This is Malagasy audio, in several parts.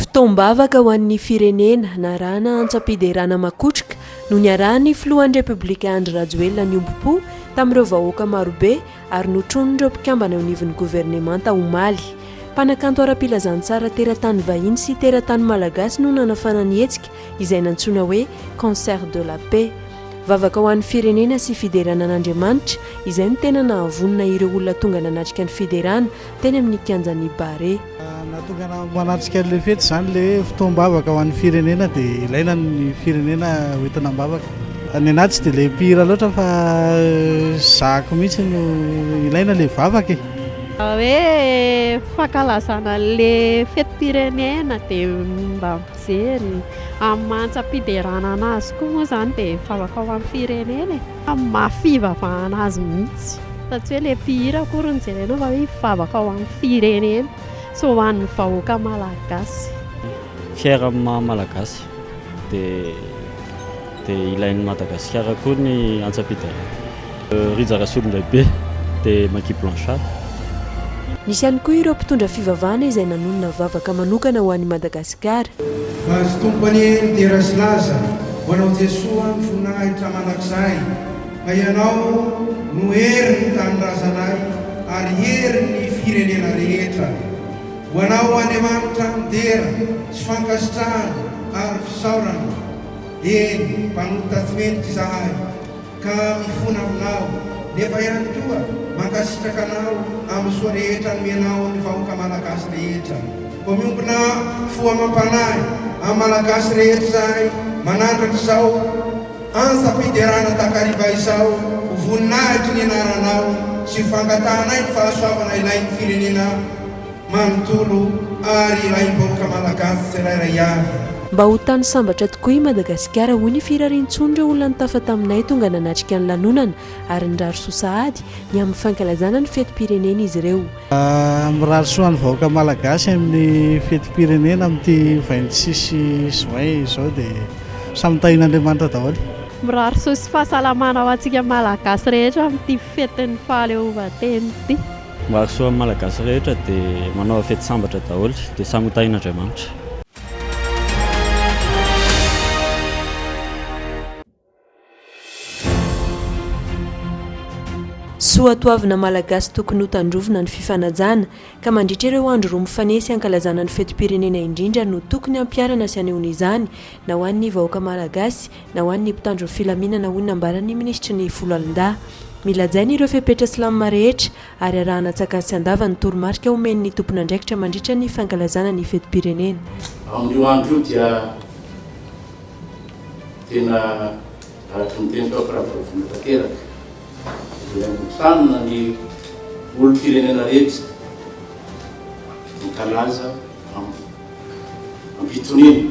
Fotoam-bavaka ho an'ny firenena narahana antsam-piderana makotroka no niarahan'ny filohan'ny Repoblika Andry Rajoelina niombom-po tamin'ireo vahoaka marobe ary notronin'ireo mpikambana eo anivon'ny governemanta omaly. Mpanakanto ara-pilazantsara teratany vahiny sy teratany malagasy no nanafana ny hetsika izay nantsoina hoe Concert de la Paix. Vavaka ho an'ny firenena sy fiderana an'Andriamanitra, izay no tena nahavonona ireo olona tonga nanatrika ny fiderana teny amin'ny kianjan'ny Barea. Nahatonga anao manatrika an'ilay fety izany ilay hoe fotoam-bavaka ho an'ny firenena dia ilaina ny firenena hoentina am-bavaka. Ny anahy tsy dia ilay mpihira loatra fa zahako mihitsy no ilaina ilay vavaka e. Raha hoe fankalazana ilay fetim-pirenena dia mba. Jeriny. Amin'ny maha antsam-piderana an'azy koa moa izany dia mivavaka ho an'ny firenena e! Amin'ny maha fivavahana azy mihitsy. Fa tsy hoe ilay mpihira akory no jerenao fa hoe hivavaka ho an'ny firenena sy ho an'ny vahoaka malagasy. Fier amin'ny maha malagasy. Dia dia ilain'i Madagasikara koa ny antsam-piderana. Rija Rasolondraibe dia Maky Blanchard. Nisy ihany koa ireo mpitondra fivavahana izay nanonona vavaka manokana ho an'i Madagasikara. Vady Tompo anie midera sy laza ho anao Jesoa ny voninahitra mandrakizay fa ianao no herin'ny tanindrazanay ary herin'ny firenena rehetra. Ho anao Andriamanitra ny dera sy fankasitrahana ary fisaorana. Eny mpanota tsy mendrika izahay. ka mifona aminao, nefa ihany koa mankasitraka anao amin'ny soa rehetra nomenao ny vahoaka Malagasy rehetra. Koa miombona fo amam-panahy amin'ny Malagasy rehetra izahay manandratra izao antsam-piderana takariva izao ho voninahitry ny anaranao sy ho fangatahanay ny fahasoavana ilain'ny firenena, manontolo ary raim-bahoaka malagasy tsirairay avy. Mba ho tany sambatra tokoa i Madagasikara, hoy ny firarian-tson'ireo olona nitafa taminay tonga nanatrika ny lanonana ary nirary soa sahady ny amin'ny fankalazana ny fetim-pirenena izy ireo. Mirary soa an'ny vahoaka malagasy amin'ny fetim-pirenena amin'ity vingt six juin izao dia samy tahin'Andriamanitra daholo. Mirary soa sy fahasalamana ho antsika malagasy rehetra amin'ity fetin'ny fahaleovantena ity. Mahasoa ny Malagasy rehetra dia manaova fety sambatra daholo dia samy ho tahin'Andriamanitra. Soatoavina Malagasy tokony ho tandrovina ny fifanajana ka mandritra ireo andro roa mifanesy hankalazana ny fetim-pirenena indrindra no tokony hampiharana sy hanehoana izany na ho an'ny vahoaka Malagasy Na ho an'ny mpitandro ny filaminana, hoy ny nambaran'ny minisitry ny Foloalindahy. Milajaina ireo fepetra Slam rehetra ary arahana antsakany sy andava ny toromarika omen'ny tompon'andraikitra mandritra ny fankalazana ny fetim-pirenena. Amin'io andro io dia tena araka ny tenin'ny fampiravoravoana tanteraka izay angontranina ny olom-pirenena rehetra hankalaza am-pitoniana.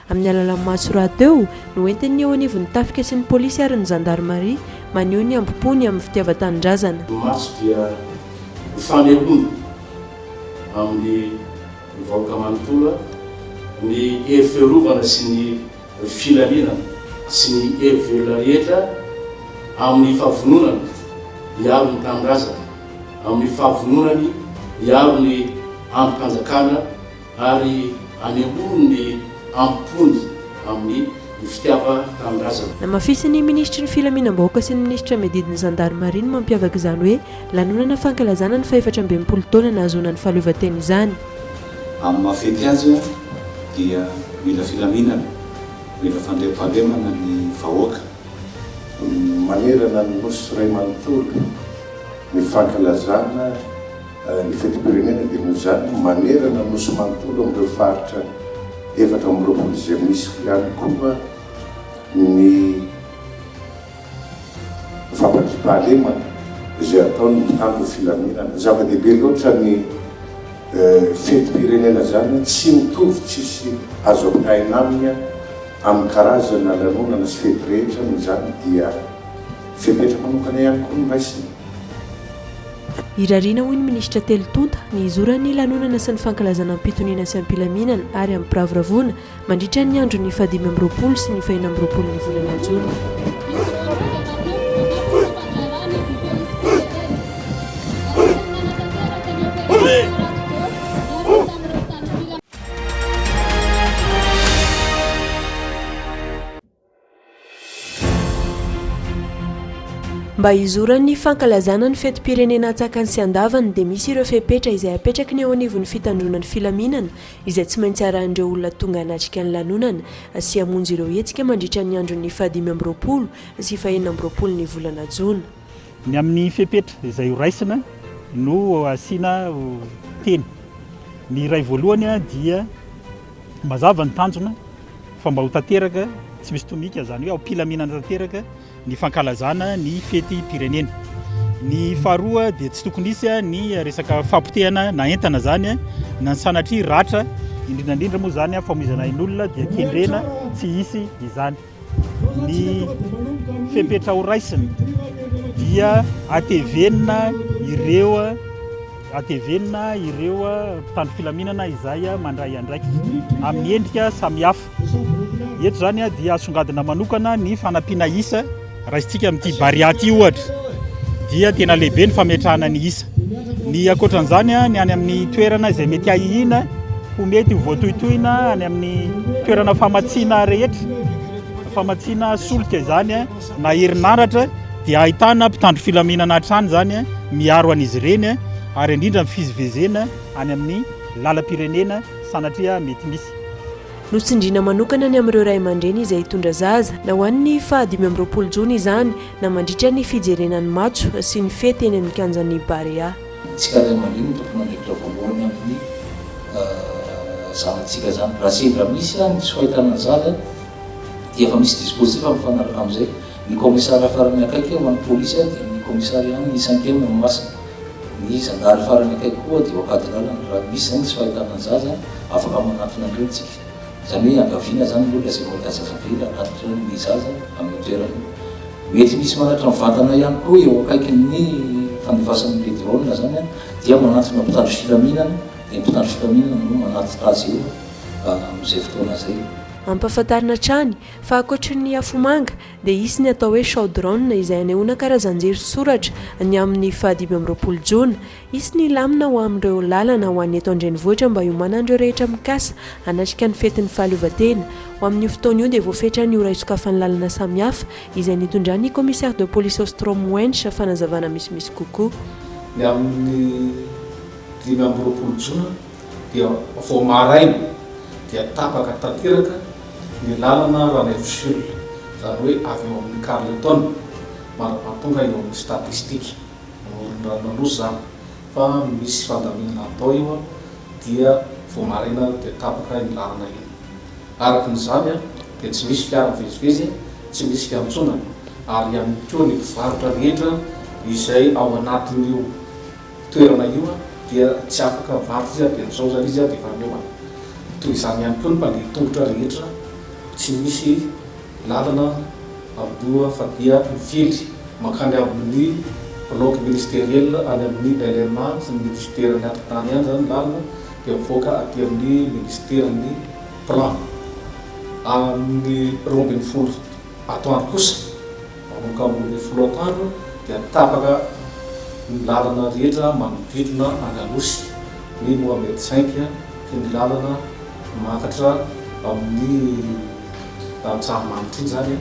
Amin'ny alalan'ny matso rahateo, no entin'ny eo anivon'ny tafika sy ny polisy ary ny zandarimaria, maneho ny hambom-pony amin'ny fitiavan-tanindrazana. Ny matso dia ho fanehoana amin'ny vahoaka manontolo ny hery fiarovana sy ny filaminana sy ny hery velona rehetra amin'ny fahavononany hiaro ny tanindrazana, amin'ny fahavononany hiaro ny andrim-panjakana Ary hanemoro ny am-pony amin'ny fitiavan-tanindrazana. Namafisin'ny minisitry ny Filaminam-bahoaka sy ny minisitra miadidy ny zandarimaria ny mampiavaka izany hoe lanonana fankalazana ny fahefatra amby enimpolo taona nahazoana ny fahaleovantena izany. Amin'ny maha fety azy dia mila filaminana, mila fandriampahalemana ny vahoaka. Manerana ny Nosy iray manontolo ny fankalazana. Ny fetim-pirenena dia noho izany no manerana ny Nosy manontolo amin'ireo faritra efatra amby roapolo izay misy ihany koa ny fampandriam-pahalemana izay ataon'ny mpitandro ny filaminana. Zava-dehibe loatra ny fetim-pirenena izany, tsy mitovy, tsisy azo ampitahaina aminy amin'ny karazana lanonana sy fety rehetra noho izany dia fepetra manokana ihany koa no raisina. Irariana hoy ny minisitra telo tonta ny hizoran'ny lanonana sy ny fankalazana am-pitoniana sy am-pilaminana ary amim-piravoravoana mandritra ny andron'ny fahadimy amby roapolo sy ny faheno amby roapolon'ny volana jona. Mba hizoran'ny fankalazana ny fetim-pirenena antsakany sy andavany dia misy ireo fepetra izay apetraky ny eo anivon'ny fitandroana ny filaminana izay tsy maintsy arahin'ireo olona tonga hanatrika ny lanonana sy hamonjy ireo hetsika mandritra ny andron'ny fahadimy amby roapolo sy fahenina amby roapolon'ny volana jona. Ny amin'ny fepetra izay ho raisina no asiana teny. Ny iray voalohany dia mazava ny tanjona fa mba ho tanteraka tsy misy tomika, izany hoe am-pilaminana tanteraka ny fankalazana ny fetim-pirenena. Ny faharoa dia tsy tokony hisy ny resaka fampotehana na entana izany na ny sanatria ratra, indrindra indrindra moa izany famoizana ain'olona dia kendrena tsy hisy izany. ny fepetra ho raisina dia atevenina ireo atevenina ireo mpitandro filaminana izay mandray andraikitra amin'ny endrika samihafa. Eto izany dia asongadina manokana ny fanampiana isa raisintsika amin'ity baria ity ohatra dia tena lehibe ny fametrahana ny isa. Ny ankoatran'izany ny any amin'ny toerana izay mety hahihina Ho mety ho voatohitohina any amin'ny toerana famatsiana rehetra, famatsiana solika izany na herinaratra dia ahitana mpitandro filaminana hatrany izany miaro an'izy ireny ary indrindra ny fizivezena any amin'ny lalam-pirenena sanatria mety misy. Notsindriana manokana ny amin'ireo ray aman-dreny izay hitondra zaza, na ho an'ny faha dimy amby roapolo jona izany na mandritra ny fijerena ny matso sy ny fety eny amin'ny kianjan'ny Barea. Tsy karaina madio ny tompon'andraikitra voalohany amin'ny zanatsika izany. Raha sendra misy ary ny tsy fahitana ny zaza dia efa misy dispositif mifanaraka amin'izay. Ny kaomisary farany akaiky eo any polisy dia ny kaomisary ihany ny cinquième no masina. Ny zandary farany akaiky koa dia ao Ankadilala. Raha misy izany ny tsy fahitana ny zaza, afaka manantona an'ireny isika. Izany hoe iangaviana izany aloha ilay izay mahita zaza be raha natolotra ny zaza amin'ny toerana. Mety misy manatitra ny vantana ihany koa eo akaikin'ny fandefasan'ny le drone izany dia manantona mpitandro filaminana dia ny mpitandro filaminana no manatitra azy eo amin'izay fotoana izay. Ampahafantarina hatrany fa ankoatry ny afomanga dia hisy ny atao hoe Show Drone izay hanehoana karazan-jerisoratra ny amin'ny fahadimy amby roapolo jona Hisy ny lamina ho amin'ireo lalana ho an'ny eto an-drenivohitra mba hiomanan'ireo rehetra mikasa hanatrika ny fetin'ny fahaleovantena. Ho amin'io fotoana io dia voafetra ny ora hisokafan'ny lalana samihafa, izay nitondran'ny Commissaire de Police Ostrom Wench fanazavana misimisy kokoa. Ny amin'ny dimy amby roapolo jona dia vao maraina dia tapaka tanteraka ny lalana Ranaivoshul, izany hoe avy eo amin'ny Carleton mandra-pahatonga eo amin'ny Statistique. Morondranona aloha zany fa misy fandaminana atao io an, dia vao maraina dia tapaka iny lalana iny. Araka ny zany an dia tsy misy fiara mivezivezy an, tsy misy fiantsonana ary ihany koa ny mpivarotra rehetra izay ao anatin'io toerana io an dia tsy afaka mivarotra izy an dia zao zany izy an dia efa miomana. Toy izany ihany koa ny mpandeha tongotra rehetra tsy misy. Lalana aloha fa dia mivily mankany amin'ny Bloc ministeriel any amin'ny LMA sy ny Minisiteran'ny Atontany any izany lalana dia mivoaka aty amin'ny Minisiteran'ny Plan. Amin'ny roa ambin'ny folo atoandro kosa manomboka amin'ny roa ambin'ny folo atoandro dia tapaka ny lalana rehetra manodidina an'Anosy, ny Mohamed Cinq, ny lalana miakatra amin'ny. tantsaha mamy ity izany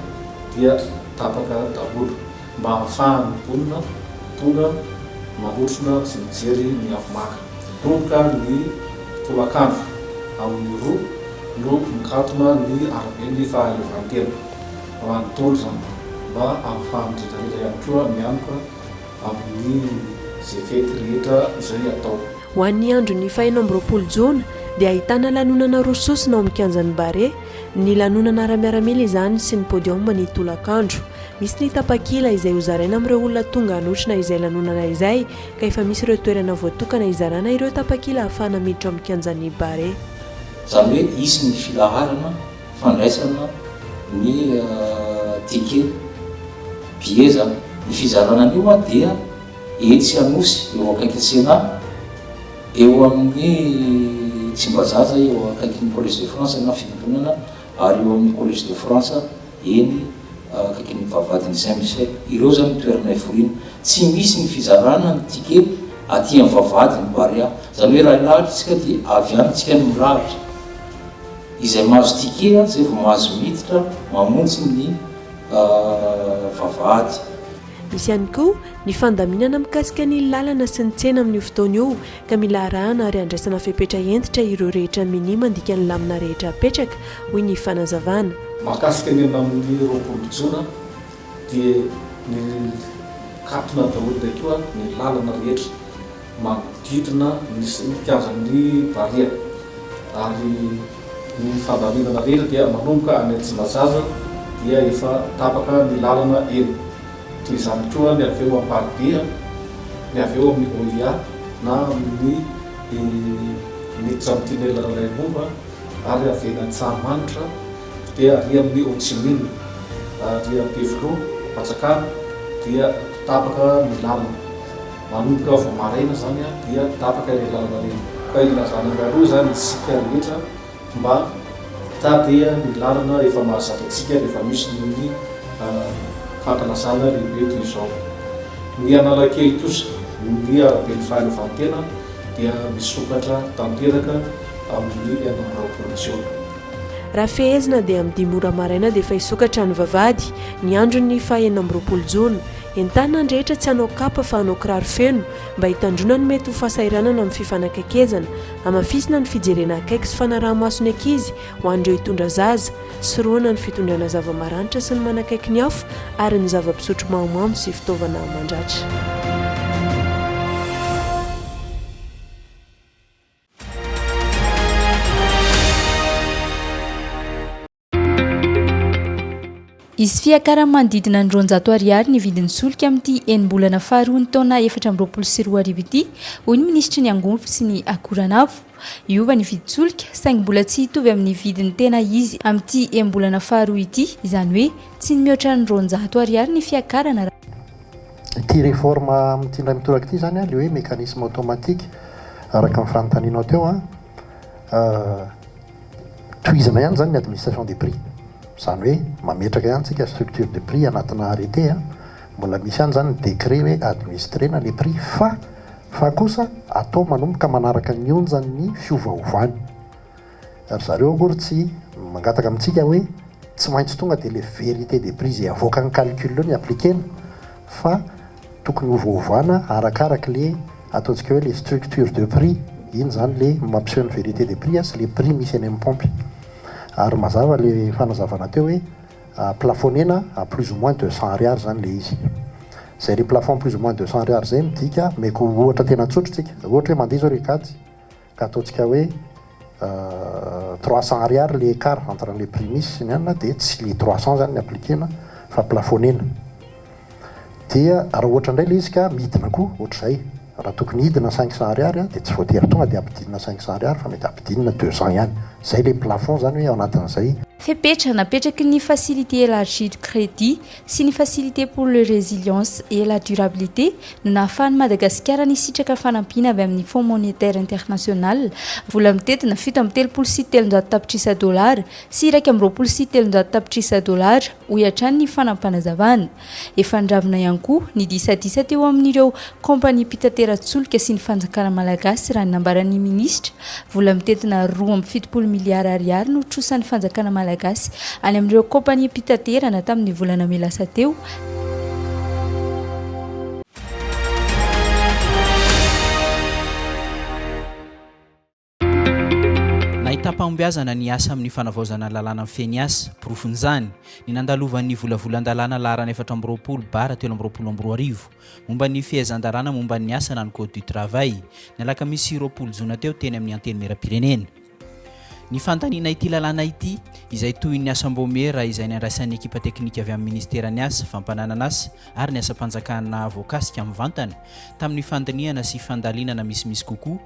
dia tapaka daholo mba hahafahan'ny mponina tonga manotrona sy mijery ny avomanga. Roboka ny tolakandro amin'ny roa no mikatona ny araben'ny fahaleovantena manontolo izany mba hahafahan'ny rehetrarehetra ihany koa mianoka amin'ny izay fety rehetra izay atao. Ho an'ny andron'ny fahenina amby roapolo jona dia ahitana lanonana roa sosona ao amin'ny kianjan'ny Barea, ny lanonana ara-miaramila izany sy ny podium ny tolakandro. Misy ny tapakila izay hozaraina amin'ireo olona tonga hanotrona izay lanonana izay ka efa misy ireo toerana voatokana hizarana ireo tapakila ahafahana miditra ao amin'ny kianjan'ny Barea. Izany hoe hisy ny filaharana fandraisana ny ticket, billets, izany. Ny fizarana an'io dia. Etsy Anosy, eo akaiky Tsena, eo amin'ny Tsimbazaza, eo akaikin'ny Collège de France na Fiangonana ary eo amin'ny Collège de France, eny akaikin'ny Vavahadin'i Saint Michel. Ireo izany no toerana hiforiana. Tsy misy ny fizarana ny ticket aty amin'ny Vavahadin'i Barea. Izany hoe raha hilahatra isika dia avy any isika no mirahatra. Izay mahazo ticket izay vao mahazo miditra mamonjy ny Vavahady. Misy ihany koa ny fandaminana mikasika ny lalana sy ny tsena amin'io fotoana io ka mila arahana ary andraisana fepetra hentitra ireo rehetra minia mandika ny lamina rehetra apetraka, hoy ny fanazavana. Mahakasika ny enina amin'ny roapolo jona dia mikatona daholo indray koa ny lalana rehetra manodidina ny kianjan'ny Barea ary ny fandaminana rehetra dia manomboka any Tsimbazaza dia efa tapaka ny lalana eny. Toy izany koa ny avy eo Amparibe, ny avy eo amin'ny OIA na amin'ny miditra amin'ny tunnel Rainimomba ary avy eny Antsahamanitra dia ary amin'ny Ho Chi Minh ary Ampefiloha, Atsakana dia tapaka ny lalana. Manomboka vao maraina izany dia tapaka ireny lalana ireny. Ka ilazana mialoha izany isika rehetra mba hitady ny lalana efa mahazatra antsika rehefa misy ny fankalazana lehibe toy izao. Ny Analakely kosa, ny Araben'ny Fahaleovantena dia misokatra tanteraka amin'ny enina amby roapolo jiona. Raha fehezina dia amin'ny dimy ora maraina dia efa hisokatra ny vavahady ny andron'ny faha enina amby roapolo jona. Entanina ny rehetra tsy hanao kapa fa hanao kiraro feno mba hitandroana ny mety ho fahasahiranana amin'ny fifanakaikezana. Hamafisina ny fijerena akaiky sy fanaraha-maso ny ankizy ho an'ireo hitondra zaza. Sorohana ny fitondrana zava-maranitra sy ny manakaiky ny hafa ary ny zava-pisotro mahamamo sy fitaovana mandratra. Hisy fiakarany manodidina ny roanjato ariary ny vidin'ny solika amin'ity enim-bolana faharoan'ny taona efatra amby roapolo sy roa arivo ity, hoy ny minisitry ny Angonfo sy ny Akoranafo. Hiova ny vidin-tsolika, saingy mbola tsy hitovy amin'ny vidiny tena izy amin'ity enim-bolana faharoa ity, izany hoe tsy ny mihoatra ny roanjato ariary ny fiakarana. Ity reforme amin'ity indray mitoraka ity izany, ilay hoe mécanisme automatique, araka ny fanontanianao teo, tohizana ihany izany ny administration des prix. Izany hoe mametraka ihany isika structure de prix anatinà arrêté, mbola misy ihany izany ny décret hoe administrer-na ilay prix fa fa kosa atao manomboka manaraka ny onjan'ny fiovaovany. Ry zareo akory tsy mangataka amintsika hoe tsy maintsy tonga dia ilay vérité des prix izay avoakan'ny calcul eo ny appliquer-na fa tokony hovaovana arakaraka ilay ataontsika hoe ilay structure de prix, iny izany ilay mampiseho ny vérité des prix sy ilay prix misy eny amin'ny paompy. Ary mazava ilay fanazavana teo hoe plafonner-na à plus ou moins deux cents ariary izany ilay izy. Izay ilay plafond plus ou moins deux cents ariary izay midika, omeko ohatra tena tsotra isika, ohatra hoe mandeha izao ry Kajy, Ka ataontsika hoe trois cents ariary ilay écart entre an'ilay prix misy sy ny anona dia tsy ilay trois cents izany no appliquer-na fa plafonner-na. Dia raha ohatra indray ilay izy ka midina koa ohatr'izay, raha tokony hidina cinq cents ariary dia tsy voatery tonga dia ampidinina cinq cents ariary fa mety ampidinina deux cents ihany. Izay ilay plafond izany hoe ao anatin'izay. Fepetra napetraky ny Facilité élargie de crédit sy ny Facilité pour le résilience et la durabilité no nahafahan'i Madagasikara nisitraka fanampiana avy amin'ny Fonds Monétaire International, vola mitentina fito amby telopolo sy telonjato tapitrisa dolara sy iraika amby roapolo sy telonjato tapitrisa dolara, hoy hatrany ny fanapanazavana. Efa niravina ihany koa ny disadisa teo amin'ireo Kaompaniam-pitateran-tsolika sy ny fanjakana malagasy raha ny nambaran'ny minisitra, vola mitentina roa amby fitopolo miliara ariary no trosan'ny fanjakana malagasy any amin'ireo kaompaniam-pitaterana tamin'ny volana mey lasa teo. Nahitam-pahombiazana ny asa amin'ny fanavaozana ny lalàna mifehy ny asa. Porofon'izany, ny nandalovan'ny volavolan-dalàna laharana efatra amby roapolo bara telo amby roapolo amby roa arivo, momba ny fehezan-dalàna momba ny asa na ny Code du travail, ny alakamisy roapolo jona teo teny amin'ny Antenimierampirenena. Ny fandaniana ity lalàna ity, izay tohin'ny asam-baomiera izay nandraisan'ny ekipa teknika avy amin'ny Minisiteran'ny Asa, Fampananan'asa ary ny Asam-panjakana voakasika mivantana, tamin'ny fandinihana sy fandalinana misimisy kokoa,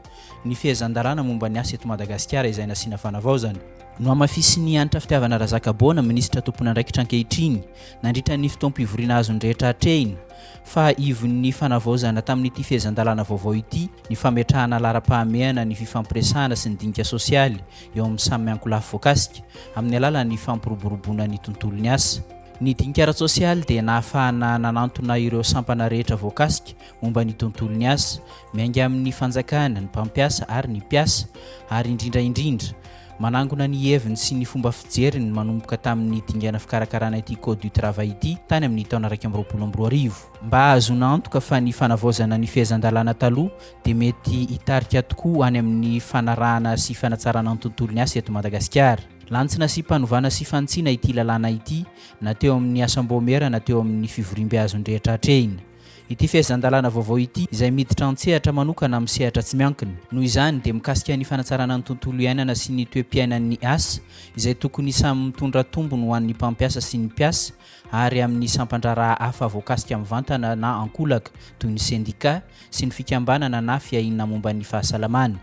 ny fehezan-dalàna momba ny asa eto Madagasikara izay nasiana fanavaozana. Nohamafisin'i Hanitra Fitiavana Razakaboana, minisitra tompon'andraikitra ankehitriny, nandritra ny fotoam-pivoriana azon'ny rehetra hatrehina, fa ivon'ny fanavaozana tamin'ity fehezan-dalàna vaovao ity ny fametrahana laharam-pahamehana ny fifampiresahana sy ny dinika sosialy eo amin'ny samy miankolafy voakasika amin'ny alalan'ny fampiroboroboana ny tontolon'ny asa. Ny dinika ara-tsosialy dia nahafahana nanantona ireo sampana rehetra voakasika momba ny tontolon'ny asa, miainga amin'ny fanjakana, ny mpampiasa ary ny mpiasa, ary indrindra indrindra, manangona ny heviny sy ny fomba fijeriny manomboka tamin'ny dingana fikarakarana ity Code du Travail ity tany amin'ny taona iraika amby roapolo amby roa arivo. Mba hahazoana antoka fa ny fanavaozana ny fehezan-dalàna taloha dia mety hitarika tokoa any amin'ny fanarahana sy fanatsarana ny tontolon'ny asa eto Madagasikara. Lantsina sy panovana sy fanitsiana ity lalàna ity na teo amin'ny asam-boamera na teo amin'ny fivoriambe azon'ny rehetra atrehina. Ity fehezan-dalàna vaovao ity, izay miditra an-tsehatra manokana amin'ny sehatra tsy miankina, noho izany, dia mikasika ny fanatsarana ny tontolo iainana sy ny toe-piainan'ny asa, izay tokony samy mitondra tombony ho an'ny mpampiasa sy ny mpiasa ary amin'ny sampan-draharaha hafa voakasika mivantana na ankolaka, toy ny sendika sy ny fikambanana na fiahiana momba ny fahasalamana.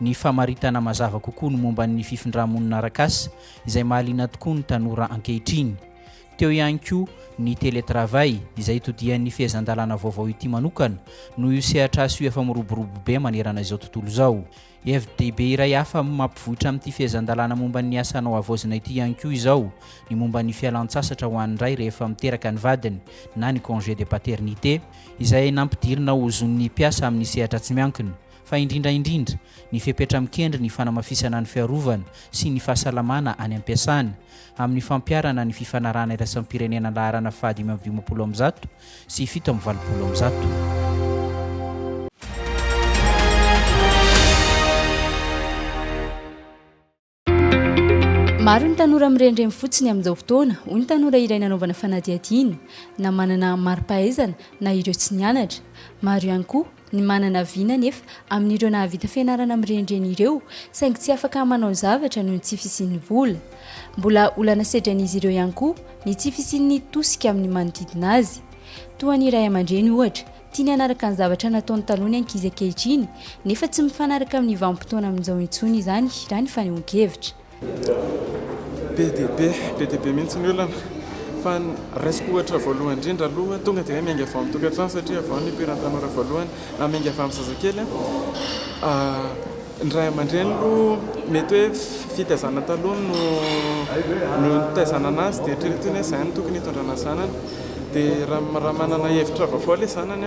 ny famaritana mazava kokoa ny momba ny fifindrà-monina arak'asa izay mahaliana tokoa ny tanora ankehitriny. Teo ihany koa ny télétravail izay itodihan'ny fehezan-dalàna vaovao ity manokana noho io sehatr'asa io efa miroborobo be manerana izao tontolo izao. Hevi-dehibe iray hafa mampivoitra amin'ity fehezan-dalàna momba ny asa hanao havaozina ity ihany koa izao ny momba ny fialan-tsasatra ho an'ny ray rehefa miteraka ny vadiny na ny congé de paternité izay nampidirina ho zon'ny mpiasa amin'ny sehatra tsy miankina fa indrindra indrindra ny fepetra mikendry ny fanamafisana ny fiarovana sy ny fahasalamana any am-piasana, amin'ny fampiharana ny fifanarahana iraisam-pirenena laharana faha dimy amby dimampolo amby zato sy fito amby valopolo amby zato. Maro ny tanora miremremy fotsiny amin'izao fotoana, hoy ny tanora iray nanaovana fanadihadiana, na manana mari-pahaizana na ireo tsy nianatra. Maro ihany koa ny manana vina anefa amin'ireo nahavita fianarana mirenireny ireo, saingy tsy afaka manao zavatra noho ny tsy fisian'ny vola. Mbola olana sedran'izy ireo ihany koa ny tsy fisian'ny tosika amin'ny manodidina azy. Toa ny ray aman-dreny, ohatra, Tiany hanaraka ny zavatra nataony taloha ny ankizy ankehitriny, nefa tsy mifanaraka amin'ny vanim-potoana amin'izao intsony izany, raha ny fanehoan-kevitra. Be dia be, be dia be mihitsy ny olana. Fa ny raisiko ohatra voalohany indrindra aloha, tonga dia hoe miainga vao amin'ny tokantrano, satria vao ny nipoiran'ny tanora voalohany, na miainga avy amin'ny zazakely an. Ny ray aman-dreny aloha mety hoe fitaizana taloha no nitaizana an'azy dia eritreretiny hoe izay no tokony hitondrana zanany dia raha manana hevitra vaovao ilay zanany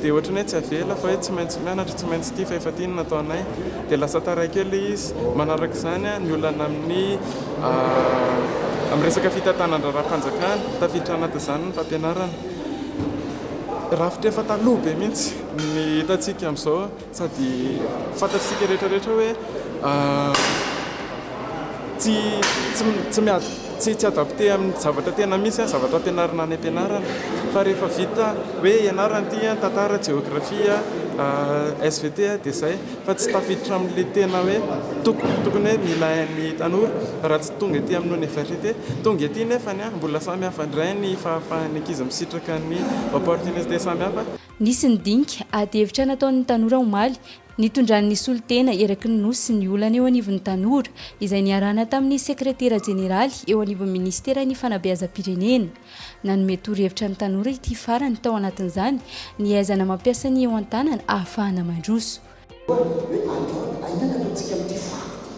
dia ohatran'ny hoe tsy avela fa hoe tsy maintsy mianatra, tsy maintsy ity fa efa ity no nataonay dia lasa taraiky eo ilay izy. Manaraka izany ny olana amin'ny amin'ny resaka fitantanan-draharaham-panjakana, tafiditra anatin'izany ny fampianarana. Rafitra efa taloha be mihitsy ny hitantsika amin'izao. Sady fantatsika rehetra rehetra hoe tsy tsy tsy tsy adapté amin'ny zavatra tena misy an zavatra ampianarina any ampianarana fa rehefa vita hoe ianarana ity an tantara jeografia svt dia izay fa tsy tafiditra amin'le tena hoe tokony tokony hoe nilain'ny tanora raha tsy tonga ety amin'ny oniversite tonga ety nefany an mbola samy hafa indray ny fahafahan'ny ankizy misitraka ny opportunité samy hafa Nisy ny dinika ady hevitra nataon'ny tanora omaly, nitondran'ny solontena eraky ny Nosy ny olana eo anivon'ny tanora, izay niarahana tamin'ny sekretera jeneraly eo anivon'ny minisiteran'ny fanabeazam-pirenena. Nanome torohevitra ny tanora ity farany tao anatin'izany, ny aizana mampiasa ny eo an-tanana ahafahana mandroso. Hoe andao aingana aloha tsika amin'ity fako ity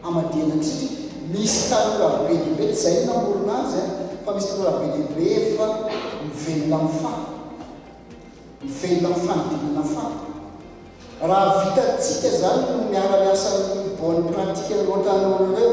hamadihana antsika ity. Misy tanora be dia be, tsy izay no namorona azy an, fa misy tanora be dia be efa mivelona amin'ny fako, mivelona amin'ny fanodinana fako. Raha vitantsika izany no miara-miasa amin'ny bonne pratique loatra an'ireo.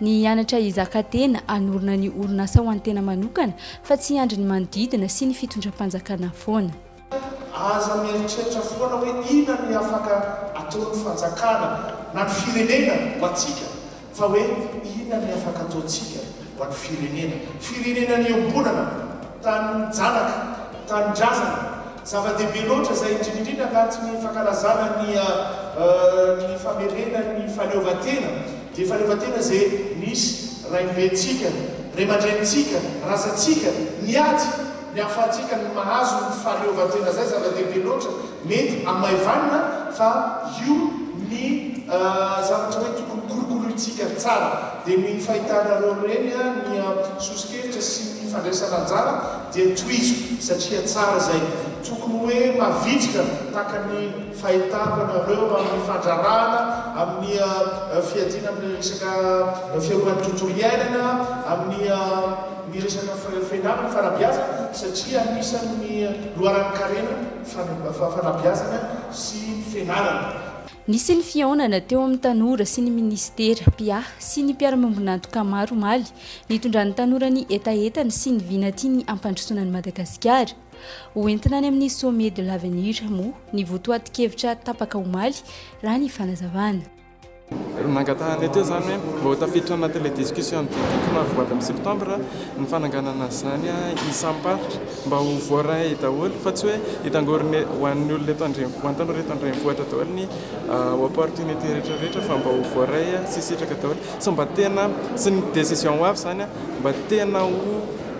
Ny hianatra hizaka tena, hanorina ny orinasa ho an'ny tena manokana fa tsy hiandry ny manodidina sy ny fitondram-panjakana foana. Aza mieritreritra foana hoe inona ny afaka ataon'ny fanjakana na ny firenena ho antsika fa hoe inona ny afaka ataontsika ho an'ny firenena. Firenena niombonana, tanin-janaka, tanindrazana. Zava-dehibe loatra izay, indrindra indrindra anatin'ny fankalazana ny ny famerena ny fahaleovantena Dia fahaleovantena izay nisy raibentsika, raiamandrenintsika, razantsika, niady ny ahafahantsika ny mahazo ny fahaleovantena izay zava-dehibe loatra mety hamaivanina fa io ny zavatra hoe tokony kolokolointsika tsara. Dia ny fahitanareo ireny ny sosokevitra sy ny fandraisana anjara dia tohizo satria tsara izay. Tokony hoe mavitrika tahaka ny. Fahitako anareo amin'ny fandraràna, amin'ny fiadiana amin'ny resaka fiarovana ny tontolo iainana, amin'ny ny resaka fialana amin'ny fanabeazana satria anisan'ny loharanon-karena ny fanabeazana sy ny fianarana. Nisy ny fihaonana teo amin'ny tanora sy ny minisitera, mpiahy sy ny mpiara-miombon'antoka maro omaly, nitondran'ny tanora ny hetahetany sy ny vina tiany hampandrosoana an'i Madagasikara. Ho entina any amin'ny Sommet de l'Avenir moa ny votoatin-kevitra tapaka omaly, raha ny fanazavana. Nangataha anay teo izany hoe mba ho tafiditra anaty ilay discussion de dico maha-voady amin'ny septembre ny fananganana an'izany isam-paritra mba ho voaray daholo fa tsy hoe hitangorona ho an'ny olona eto an-drenivohitra, ho an'ny tanora eto an-drenivohitra daholo ny opportunité rehetrarehetra fa mba ho voaray sy hisitraka daholo sy mba tena, sy ny décision ho avy izany mba tena ho.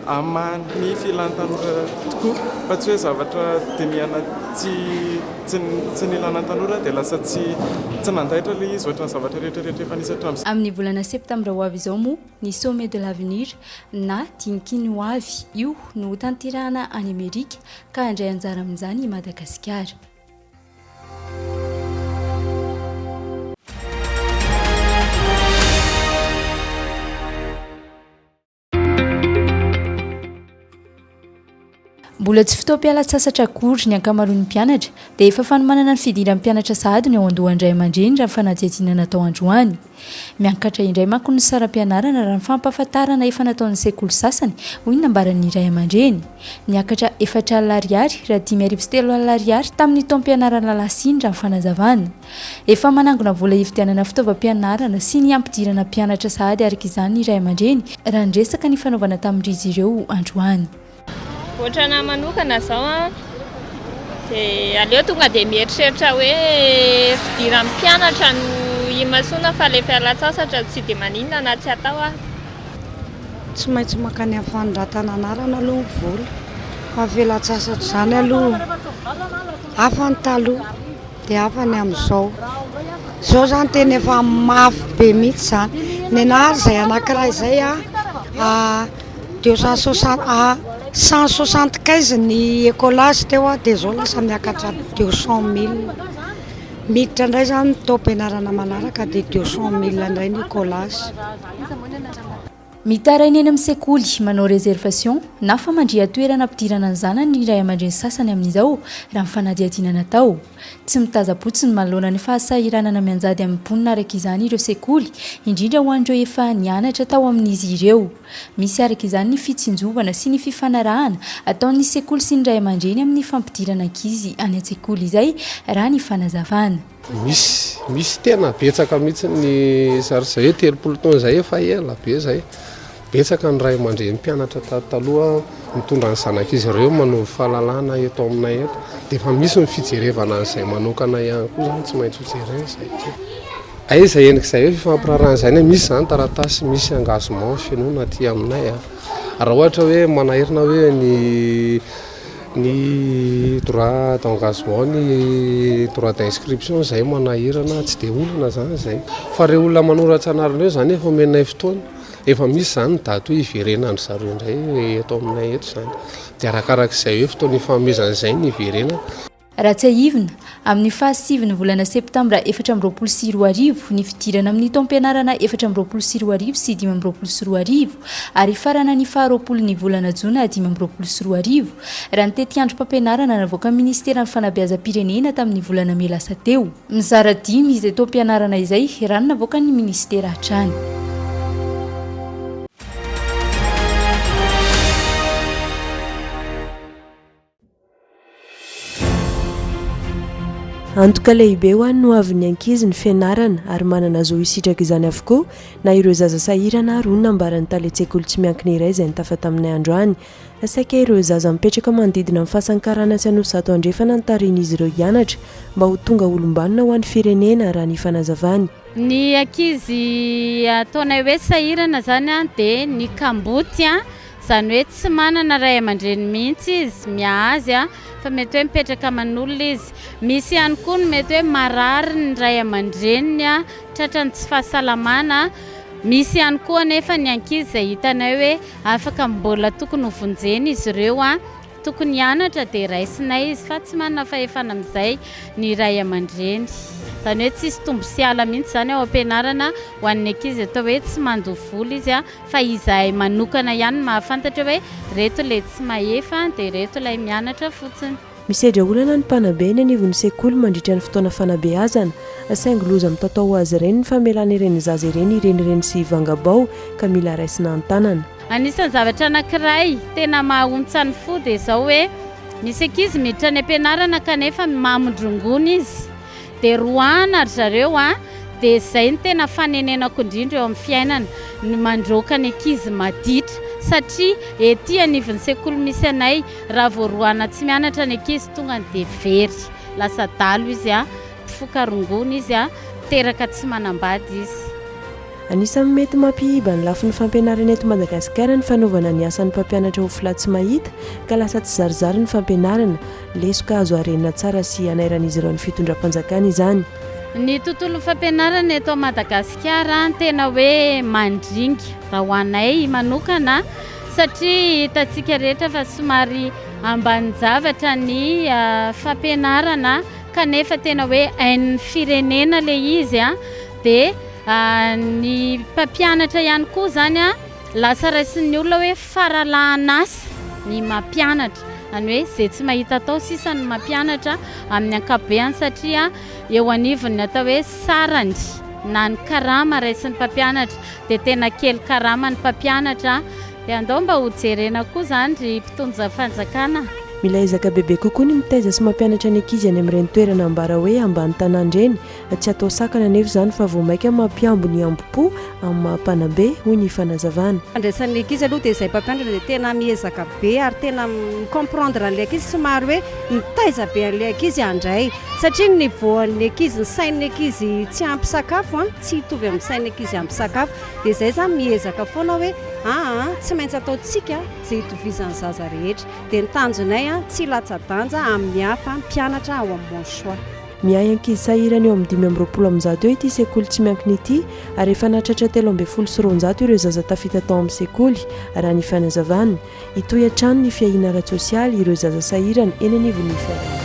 Amin'ny filan tanora tokoa fa tsy hoe zavatra dinihana tsy tsy nilana tanora dia lasa tsy tsy nandaitra ilay izy ohatran'ny zavatra rehetra rehetra efa nisy hatramin'izay. Amin'ny volana septambra ho avy izao moa ny Sommet de l'avenir na Dinikiny ho avy io no ho tanterahana any Amerika ka handray anjara amin'izany i Madagasikara. Mbola tsy fotoam-pialan-tsasatra akory ny ankamaroan'ny mpianatra dia efa fanomanana ny fidiran'ny mpianatra sahady ny ao an-dohan'ny ray aman-dreny raha ny fanadihadiana natao androany. Miakatra indray manko ny saram-pianarana raha ny fampahafantarana efa nataon'ny sekoly sasany, hoy ny nambaran'ny ray aman-dreny. Niakatra efatra alina ariary raha dimy arivo sy telo alina ariary tamin'ny taom-pianarana lasa iny raha ny fanazavana. Efa manangona vola hividianana fitaovam-pianarana sy ny hampidirana mpianatra sahady araka izany ny ray aman-dreny raha ny resaka nifanaovana tamin-drizy ireo androany. Ohatran ahy manokana zao an, de aleo tonga de mieritreritra hoe fidiran'ny mpianatra no imasoana fa le fialantsasatra tsy de maninona na tsy atao aza. Tsy maintsy mankany amin'ny fanondratana anarana aloha ny vola fa ny fialantsasatra izany aloha hafa ny taloha. Dia hafa ny amin'izao. Izao izany tena efa mafy be mihitsy izany. Nenà ary izay anankiray izay a deux cent soixante a cent soixante quinze ny écolage teo dia izao lasa miakatra deux cent mille. Miditra indray izany ny taom-pianarana manaraka dia deux cent mille indray ny écolage. Mitaraina eny amin'ny sekoly, manao réservation na famandrihan-toerana hampidirana ny zanany ny ray aman-dreny sasany amin'izao, raha ny fanadihadiana natao. Tsy mitazam-potsiny manoloana ny fahasahiranana mianjady amin'ny mponina araka izany ireo sekoly, indrindra ho an'ireo efa nianatra tao amin'izy ireo. Misy araka izany ny fitsinjovana sy ny fifanarahana ataon'ny sekoly sy ny ray aman-dreny amin'ny fampidirana ankizy any an-tsekoly izay, raha ny fanazavana. Misy, misy tena betsaka mihitsy ny sary izay, telopolo taona izay efa ela be izay. Betsaka ny ray aman-dreny mpianatra tato taloha mitondra ny zanak'izy ireo manovo fahalalana eto aminay eto. Dia efa misy ny fijerevana an'izay manokana ihany koa izany, tsy maintsy hojerena izay. Aiza henoko izay hoe fifampiraharahana izay, na misy izany taratasy misy engagement fenoina aty aminay. Raha ohatra hoe manahirana hoe ny Ny droit d'engagement, ny droit d'inscription izay manahirana, tsy dia olana izany izay. Fa ireo olona manoratra anarana ireo izany efa omenay fotoana, efa misy izany ny daty hoe hiverenan-dry zareo indray eto aminay eto izany. Dia arakarak'izay hoe fotoana ifanomezana izay no hiverenana. Raha tsiahivina, amin'ny fahasivy ny volana septambra efatra amby roapolo sy roa arivo, ny fidirana amin'ny taom-pianarana efatra amby roapolo sy roa arivo sy dimy amby roapolo sy roa arivo ary hifarana ny faharoapolo ny volana jona dimy amby roapolo sy roa arivo, raha ny tetiandrom-pampianarana navoakan'ny Ministeran'ny Fanabeazam-pirenena tamin'ny volana mey lasa teo. Mizara dimy izay taom-pianarana izay, raha ny navoakan'ny Ministera hatrany. Antoka lehibe ho an'ny hoavin'ny ankizy ny fianarana ary manana zo hisitraka izany avokoa na ireo zaza sahirana ary hoy ny nambaran'ny tale an-tsekoly tsy miankina iray izay nitafa taminay androany. Saika ireo zaza mipetraka manodidina ny fasan'ny karana sy Anosizato Andrefana no tarihin'izy ireo hianatra mba ho tonga olom-banona ho an'ny firenena, raha ny fanazavany. Ny ankizy ataonay hoe sahirana izany dia ny kamboty. Izany hoe tsy manana ray aman-dreny mihitsy izy, miahazy a! fa mety hoe mipetraka aman'olona izy. Misy ihany koa ny mety hoe marary ny ray aman-dreniny, tratra ny tsy fahasalamana. Misy ihany koa anefa ny ankizy izay hitanay hoe afaka mbola tokony ho vonjena izy ireo Tokony hianatra dia raisinay izy fa tsy manana fahefana amin'izay ny ray aman-dreny. Izany hoe tsisy tombo sy hala mihitsy izany ao am-pianarana ho an'ny ankizy atao hoe tsy mandoa vola izy fa izahay manokana ihany no mahafantatra hoe ireto ilay tsy mahefa dia ireto ilay mianatra fotsiny. Misedra olana ny mpanabe eny anivon'ny sekoly mandritra ny fotoana fanabeazana, saingy loza mitatao ho azy ireny ny famelana ireny zaza ireny hirenireny sy hivanga-bao ka mila raisina an-tanana. Anisan'ny zavatra anankiray tena maha-ontsan'ny fo dia izao hoe misy ankizy miditra any am-pianarana kanefa mamindrongony izy dia roahina ry zareo an! dia izay no tena fanenenako indrindra eo amin'ny fiainana ny mandroaka ny ankizy maditra satria ety anivon'ny sekoly misy anay raha vao roahina tsy mianatra ny ankizy tonga dia very lasa dalo izy an! mpifoka rongony izy an! teraka tsy manambady izy. Anisan'ny mety mampihiba ny lafiny fampianarana eto Madagasikara ny fanaovana ny asan'ny mpampianatra ho fla tsy mahita ka lasa tsizarizary ny fampianarana. Lesoka azo harenina tsara sy hanairan'izy ireo ny fitondram-panjakana izany. Ny tontolon'ny fampianarana eto Madagasikara tena hoe mandringa raha ho anay manokana satria hitantsika rehetra fa somary ambanin-javatra ny fampianarana kanefa tena hoe ain'ny firenena ilay izy. Dia ny mpampianatra ihany koa izany an, lasa raisin'ny olona hoe faralahan'asa ny mampianatra, izany hoe izay tsy mahita atao sisa no mampianatra amin'ny ankapobeany satria eo anivon'ny atao hoe sarany na ny karama raisin'ny mpampianatra dia tena kely karama ny mpampianatra dia andao mba ho jerena koa izany ry mpitondra fanjakana. Mila ezaka bebe kokoa ny mitaiza sy mampianatra ny ankizy any amin'ireny toerana ambara hoe ambany tanàna ireny Tsy atao sakana anefa izany fa vao mainka mampihambo ny hambom-po amin'ny maha mpanambe, hoy ny fanazavana. Fandraisan'ny ankizy aloha dia izay mpampianatra dia tena miezaka be ary tena mi-comprendre an'ilay ankizy, somary hoe mitaiza be an'ilay ankizy handray satria ny niveau-n'ny ankizy, ny sain'ny ankizy tsy ampy sakafo, tsy hitovy amin'ny sain'ny ankizy ampy sakafo, dia izay za miezaka foana hoe aa tsy maintsy ataontsika izay hitovizan'ny zaza rehetra, dia ny tanjonay tsy latsa-danja amin'ny hafa mpianatra ao amin'ny Mon Choix. Miahy ankizy sahirana eo amin'ny dimy amby roapolo amin'ny zato eo ity sekoly tsy miankina ity ary efa nahatratra telo ambin'ny folo sy roanjato ireo zaza tafita tao amin'ny sekoly, raha ny fanazavana. Hitohy hatrany ny fiahiana ara-tsosialy ireo zaza sahirana eny anivon'ny fiarahamonina.